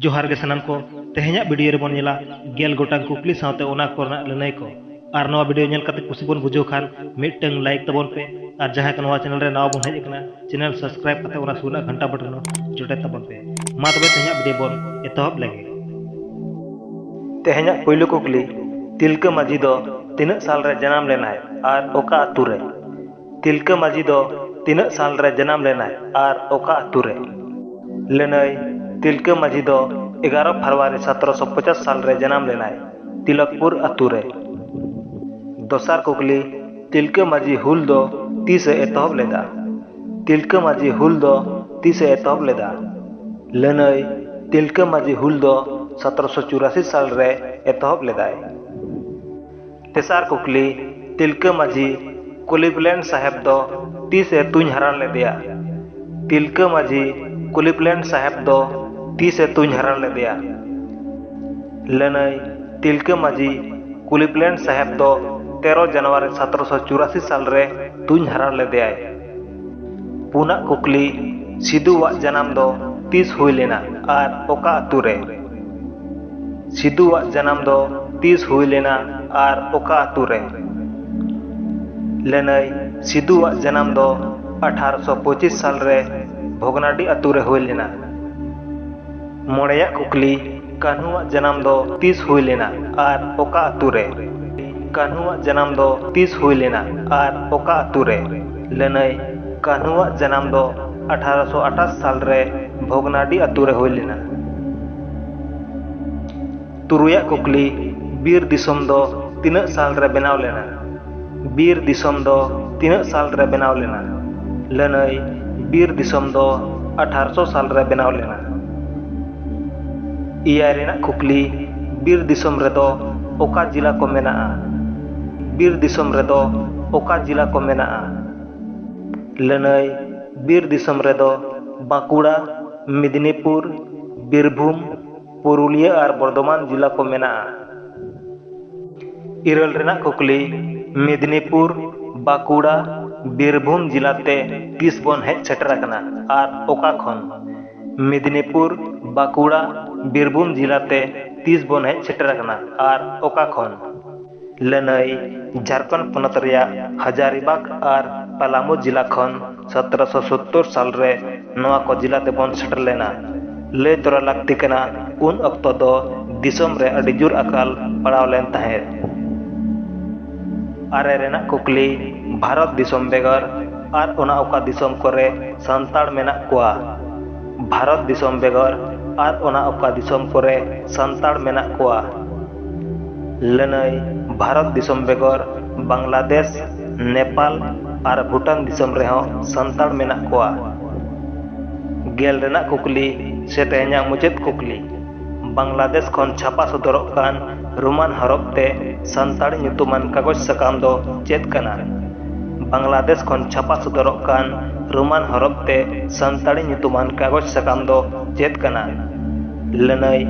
ᱡᱚᱦᱟᱨ ᱜᱮ ᱥᱟᱱᱟᱢ ᱠᱚ ᱛᱮᱦᱮᱧᱟᱜ ᱵᱷᱤᱰᱤᱭᱳ ᱨᱮᱵᱚᱱ ᱧᱮᱞᱟ ᱜᱮᱞ ᱜᱚᱴᱟᱝ ᱠᱩᱠᱞᱤ ᱥᱟᱶᱛᱮ ᱚᱱᱟ ᱠᱚᱨᱮᱱᱟᱜ ᱞᱟᱹᱱᱟᱹᱭ ᱠᱚ ᱟᱨ ᱱᱚᱣᱟ ᱵᱷᱤᱰᱤᱭᱳ ᱧᱮᱞ ᱠᱟᱛᱮ ᱠᱩᱥᱤ ᱵᱚᱱ ᱵᱩᱡᱷᱟᱹᱣ ᱠᱷᱟᱱ ᱢᱤᱫᱴᱟᱝ ᱞᱟᱭᱤᱠ ᱛᱟᱵᱚᱱ ᱯᱮ ᱟᱨ ᱡᱟᱦᱟᱸᱭ ᱠᱚ ᱱᱚᱣᱟ ᱪᱮᱱᱮᱞ ᱨᱮ ᱱᱟᱣᱟ ᱵᱚᱱ ᱦᱮᱡ ᱟᱠᱟᱱᱟ ᱪᱮᱱᱮᱞ ᱥᱟᱵᱥᱠᱨᱟᱭᱤᱵ ᱠᱟᱛᱮ ᱚᱱᱟ ᱥᱩᱨ ᱨᱮᱱᱟᱜ ᱜᱷᱟᱱᱴᱟ ᱵᱚᱴᱚᱱ ᱡᱚᱴᱮᱫ ᱛᱟᱵᱚᱱ ᱯᱮ ᱢᱟ ᱛᱚᱵᱮ ᱛᱮᱦᱮᱧᱟᱜ ᱵᱷᱤᱰᱤᱭᱳ ᱵᱚᱱ ᱮᱛᱚᱦᱚᱵ ᱞᱮᱜᱮ ᱛᱮᱦᱮᱧᱟᱜ ᱯᱩᱭᱞᱩ ᱠᱩᱠᱞᱤ ᱛᱤᱞᱠᱟᱹ ᱢᱟᱹᱡᱷᱤ ᱫᱚ ᱛᱤᱱᱟᱹᱜ ᱥᱟᱞ ᱨᱮ ᱡᱟᱱᱟᱢ ᱞᱮᱱᱟᱭ ᱟᱨ ᱚᱠᱟ ᱟᱹᱛᱩ ᱨᱮ ᱛᱤᱞᱠᱟᱹ ᱢᱟᱹᱡᱷᱤ ᱫᱚ ᱛᱤᱱᱟᱹᱜ ᱥᱟᱞ ᱨᱮ ᱡᱟᱱᱟᱢ ᱞᱮᱱᱟᱭ ᱟᱨ ᱚᱠᱟ ᱟᱹᱛᱩ ᱨᱮ? ᱞᱟᱹᱱᱟᱹᱭ, ᱛᱤᱞᱠᱟᱹ ᱢᱟᱹᱡᱷᱤ ᱫᱚ ᱮᱜᱟᱨᱚ ᱯᱷᱟᱨᱣᱟᱨᱤ ᱥᱟᱛᱨᱚ ᱥᱚ ᱯᱚᱪᱟᱥ ᱥᱟᱞ ᱨᱮ ᱡᱟᱱᱟᱢ ᱞᱮᱱᱟᱭ ᱛᱤᱞᱚᱠᱯᱩᱨ ᱟᱹᱛᱩ ᱨᱮ᱾ ᱫᱚᱥᱟᱨ ᱠᱩᱠᱞᱤ, ᱛᱤᱞᱠᱟᱹ ᱢᱟᱹᱡᱷᱤ ᱦᱩᱞ ᱫᱚ ᱛᱤᱥ ᱮ ᱮᱛᱚᱦᱚᱵ ᱞᱮᱫᱼᱟ? ᱛᱤᱞᱠᱟᱹ ᱢᱟᱹᱡᱷᱤ ᱦᱩᱞ ᱫᱚ ᱛᱤᱥ ᱮ ᱮᱛᱚᱦᱚᱵ ᱞᱮᱫᱼᱟ? ᱞᱟᱹᱱᱟᱹᱭ, ᱛᱤᱞᱠᱟᱹ ᱢᱟᱹᱡᱷᱤ ᱦᱩᱞ ᱫᱚ ᱥᱟᱛᱨᱚ ᱥᱚ ᱪᱩᱨᱟᱥᱤ ᱥᱟᱞ ᱨᱮ ᱮᱛᱚᱦᱚᱵ ᱞᱮᱫᱟᱭ᱾ ᱛᱮᱥᱟᱨ ᱠᱩᱠᱞᱤ, ᱛᱤᱞᱠᱟᱹ ᱢᱟᱹᱡᱷᱤ ᱠᱩᱞᱤᱵᱽᱞᱮᱱᱰ ᱥᱟᱦᱮᱵᱽ ᱫᱚ ᱛᱤᱥ ᱮ ᱛᱩᱧ ᱦᱟᱨᱟ ᱞᱮᱫᱮᱭᱟ? ᱛᱤᱞᱠᱟᱹ ᱢᱟᱹᱡᱷᱤ ᱠᱩᱞᱤᱵᱽᱞᱮᱱᱰ ᱥᱟᱦᱮᱵᱽ ᱫᱚ ᱛᱤᱥ ᱮ ᱛᱩᱧ ᱦᱟᱨᱟ ᱞᱮᱫᱮᱭᱟ? ᱞᱟᱹᱱᱟᱹᱭ, ᱛᱤᱞᱠᱟᱹ ᱢᱟᱹᱡᱷᱤ ᱠᱩᱞᱤᱵᱽᱞᱮᱱᱰ ᱥᱟᱦᱮᱵᱽ ᱫᱚ ᱛᱮᱨᱚ ᱡᱟᱱᱩᱣᱟᱨᱤ ᱥᱟᱛᱨᱚᱥᱚ ᱪᱩᱨᱟᱥᱤ ᱥᱟᱞ ᱨᱮ ᱛᱩᱧ ᱦᱟᱨᱟ ᱞᱮᱫᱮᱭᱟᱭ᱾ ᱯᱩᱱᱟᱜ ᱠᱩᱠᱞᱤ, ᱥᱤᱫᱩ ᱣᱟᱜ ᱡᱟᱱᱟᱢ ᱫᱚ ᱛᱤᱥ ᱦᱩᱭ ᱞᱮᱱᱟ ᱟᱨ ᱚᱠᱟ ᱟᱹᱛᱩ ᱨᱮ? ᱥᱤᱫᱩ ᱣᱟᱜ ᱡᱟᱱᱟᱢ ᱫᱚ ᱛᱤᱥ ᱦᱩᱭ ᱞᱮᱱᱟ ᱟᱨ ᱚᱠᱟ ᱟᱹᱛᱩ ᱨᱮ? ᱞᱟᱹᱱᱟᱹᱭ, ᱥᱤᱫᱩ ᱣᱟᱜ ᱡᱟᱱᱟᱢ ᱫᱚ ᱟᱴᱷᱟᱨᱚᱥᱚ ᱯᱚᱸᱪᱤᱥ ᱥᱟᱞ ᱨᱮ ᱵᱷᱚᱜᱽᱱᱟᱰᱤ ᱟᱹᱛᱩ ᱨᱮ ᱦᱩᱭ ᱞᱮᱱᱟ᱾ ᱢᱚᱬᱮᱭᱟᱜ ᱠᱩᱠᱞᱤ, ᱠᱟᱹᱱᱦᱩᱣᱟᱜ ᱡᱟᱱᱟᱢ ᱫᱚ ᱛᱤᱥ ᱦᱩᱭ ᱞᱮᱱᱟ ᱟᱨ ᱚᱠᱟ ᱟᱹᱛᱩ ᱨᱮ? ᱠᱟᱹᱱᱦᱩᱣᱟᱜ ᱡᱟᱱᱟᱢ ᱫᱚ ᱛᱤᱥ ᱦᱩᱭ ᱞᱮᱱᱟ ᱟᱨ ᱚᱠᱟ ᱟᱹᱛᱩ ᱨᱮ? ᱞᱟᱹᱱᱟᱹᱭ, ᱠᱟᱹᱱᱦᱩᱣᱟᱜ ᱡᱟᱱᱟᱢ ᱫᱚ ᱟᱴᱷᱟᱨᱚ ᱥᱚ ᱟᱴᱷᱟᱥ ᱥᱟᱞ ᱨᱮ ᱵᱷᱚᱜᱽᱱᱟᱰᱤ ᱟᱹᱛᱩ ᱨᱮ ᱦᱩᱭ ᱞᱮᱱᱟ᱾ ᱛᱩᱨᱩᱭᱟᱜ ᱠᱩᱠᱞᱤ, ᱵᱤᱨ ᱫᱤᱥᱚᱢ ᱫᱚ ᱛᱤᱱᱟᱹᱜ ᱥᱟᱞ ᱨᱮ ᱵᱮᱱᱟᱣ ᱞᱮᱱᱟ? ᱵᱤᱨ ᱫᱤᱥᱚᱢ ᱫᱚ ᱛᱤᱱᱟᱹᱜ ᱥᱟᱞ ᱨᱮ ᱵᱮᱱᱟᱣ ᱞᱮᱱᱟ? ᱞᱟᱹᱱᱟᱹᱭ, ᱵᱤᱨ ᱫᱤᱥᱚᱢ ᱫᱚ ᱟᱴᱷᱟᱨᱚ ᱥᱚ ᱥᱟᱞ ᱨᱮ ᱵᱮᱱᱟᱣ ᱞᱮᱱᱟ᱾ ᱮᱭᱟᱭ ᱨᱮᱱᱟᱜ ᱠᱩᱠᱞᱤ, ᱵᱤᱨ ᱫᱤᱥᱚᱢ ᱨᱮᱫᱚ ᱚᱠᱟ ᱡᱤᱞᱟ ᱠᱚ ᱢᱮᱱᱟᱜᱼᱟ? ᱵᱤᱨ ᱫᱤᱥᱚᱢ ᱨᱮᱫᱚ ᱚᱠᱟ ᱡᱤᱞᱟ ᱠᱚ ᱢᱮᱱᱟᱜᱼᱟ? ᱞᱟᱹᱱᱟᱹᱭ, ᱵᱤᱨ ᱫᱤᱥᱚᱢ ᱨᱮᱫᱚ ᱵᱟᱸᱠᱩᱲᱟ, ᱢᱤᱫᱽᱱᱤᱯᱩᱨ, ᱵᱤᱨᱵᱷᱩᱢ, ᱯᱩᱨᱩᱞᱤᱭᱟᱹ ᱟᱨ ᱵᱚᱨᱫᱷᱚᱢᱟᱱ ᱡᱮᱞᱟ ᱠᱚ ᱢᱮᱱᱟᱜᱼᱟ ᱤᱨᱟᱹᱞ ᱨᱮᱱᱟᱜ ᱠᱩᱠᱞᱤ ᱢᱮᱫᱽᱱᱤᱯᱩᱨ ᱵᱟᱸᱠᱩᱲᱟ ᱵᱤᱨᱵᱷᱩᱢ ᱡᱮᱞᱟ ᱛᱮ ᱛᱤᱥ ᱵᱚᱱ ᱦᱮᱡ ᱥᱮᱴᱮᱨ ᱟᱠᱟᱱᱟ ᱟᱨ ᱚᱠᱟ ᱠᱷᱚᱱ ᱢᱮᱫᱽᱱᱤᱯᱩᱨ ᱵᱟᱸᱠᱩᱲᱟ ᱵᱤᱨᱵᱷᱩᱢ ᱡᱮᱞᱟ ᱛᱮ ᱛᱤᱥ ᱵᱚᱱ ᱦᱮᱡ ᱥᱮᱴᱮᱨ ᱟᱠᱟᱱᱟ ᱟᱨ ᱚᱠᱟ ᱠᱷᱚᱱ ᱞᱟᱹᱱᱟᱹᱭ ᱡᱷᱟᱨᱠᱷᱚᱸᱰ ᱯᱚᱱᱚᱛ ᱨᱮᱭᱟᱜ ᱦᱟᱡᱟᱨᱤᱵᱟᱜᱽ ᱟᱨ ᱯᱟᱞᱟᱢᱩ ᱡᱤᱞᱟ ᱠᱷᱚᱱ ᱥᱚᱛᱨᱚ ᱥᱚ ᱥᱚᱛᱛᱚᱨ ᱥᱟᱞ ᱨᱮ ᱱᱚᱣᱟ ᱠᱚ ᱡᱤᱞᱟ ᱛᱮᱵᱚᱱ ᱥᱮᱴᱮᱨ ᱞᱮᱱᱟ᱾ ᱞᱟᱹᱭ ᱛᱚᱨᱟ ᱞᱟᱹᱠᱛᱤ ᱠᱟᱱᱟ ᱩᱱ ᱚᱠᱛᱚ ᱫᱚ ᱫᱤᱥᱚᱢ ᱨᱮ ᱟᱹᱰᱤ ᱡᱩᱨ ᱟᱠᱟᱞ ᱯᱟᱲᱟᱣ ᱞᱮᱱ ᱛᱟᱦᱮᱸᱫ᱾ ᱟᱨᱮ ᱨᱮᱱᱟᱜ ᱠᱩᱠᱞᱤ, ᱵᱷᱟᱨᱚᱛ ᱫᱤᱥᱚᱢ ᱵᱮᱜᱚᱨ ᱟᱨ ᱚᱱᱟ ᱚᱠᱟ ᱫᱤᱥᱚᱢ ᱠᱚᱨᱮ ᱥᱟᱱᱛᱟᱲ ᱢᱮᱱᱟᱜ ᱠᱚᱣᱟ? ᱵᱷᱟᱨᱚᱛ ᱫᱤᱥᱚᱢ ᱵᱮᱜᱚᱨ ᱟᱨ ᱚᱱᱟ ᱚᱠᱟ ᱫᱤᱥᱚᱢ ᱠᱚᱨᱮ ᱥᱟᱱᱛᱟᱲ ᱢᱮᱱᱟᱜ ᱠᱚᱣᱟ? ᱞᱟᱹᱱᱟᱹᱭ ᱵᱷᱟᱨᱚᱛ ᱫᱤᱥᱚᱢ ᱵᱮᱜᱚᱨ ᱵᱟᱝᱞᱟᱫᱮᱥ ᱱᱮᱯᱟᱞ ᱟᱨ ᱵᱷᱩᱴᱟᱱ ᱫᱤᱥᱚᱢ ᱨᱮᱦᱚᱸ ᱥᱟᱱᱛᱟᱲ ᱢᱮᱱᱟᱜ ᱠᱚᱣᱟ ᱜᱮᱞ ᱨᱮᱱᱟᱜ ᱠᱩᱠᱞᱤ ᱥᱮ ᱛᱮᱦᱮᱧᱟᱜ ᱢᱩᱪᱟᱹᱫ ᱠᱩᱠᱞᱤ ᱵᱟᱝᱞᱟᱫᱮᱥ ᱠᱷᱚᱱ ᱪᱷᱟᱯᱟ ᱥᱚᱫᱚᱨᱚᱜ ᱠᱟᱱ ᱨᱳᱢᱟᱱ ᱦᱚᱨᱚᱯ ᱛᱮ ᱥᱟᱱᱛᱟᱲ ᱧᱩᱛᱩᱢᱟᱱ ᱠᱟᱜᱚᱡᱽ ᱥᱟᱠᱟᱢ ᱫᱚ ᱪᱮᱫ ᱠᱟᱱᱟ ᱵᱟᱝᱞᱟᱫᱮᱥ ᱠᱷᱚᱱ ᱪᱷᱟᱯᱟ ᱥᱚᱫᱚᱨᱚᱜ ᱠᱟᱱ ᱨᱳᱢᱟᱱ ᱦᱚᱨᱚᱯ ᱛᱮ ᱥᱟᱱᱛᱟᱲᱤ ᱧᱩᱛᱩᱢᱟᱱ ᱠᱟᱜᱚᱡᱽ ᱥᱟᱠᱟᱢ ᱫᱚ ᱪᱮᱫ ᱠᱟᱱᱟ ᱞᱟᱹᱱᱟᱹᱭ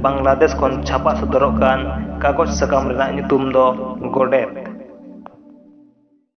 ᱵᱟᱝᱞᱟᱫᱮᱥ ᱠᱷᱚᱱ ᱪᱷᱟᱯᱟ ᱥᱚᱫᱚᱨᱚᱜ ᱠᱟᱱ ᱠᱟᱜᱚᱡᱽ ᱥᱟᱠᱟᱢ ᱨᱮᱱᱟᱜ ᱧᱩᱛᱩᱢ ᱫᱚ ᱜᱚᱰᱮᱛ᱾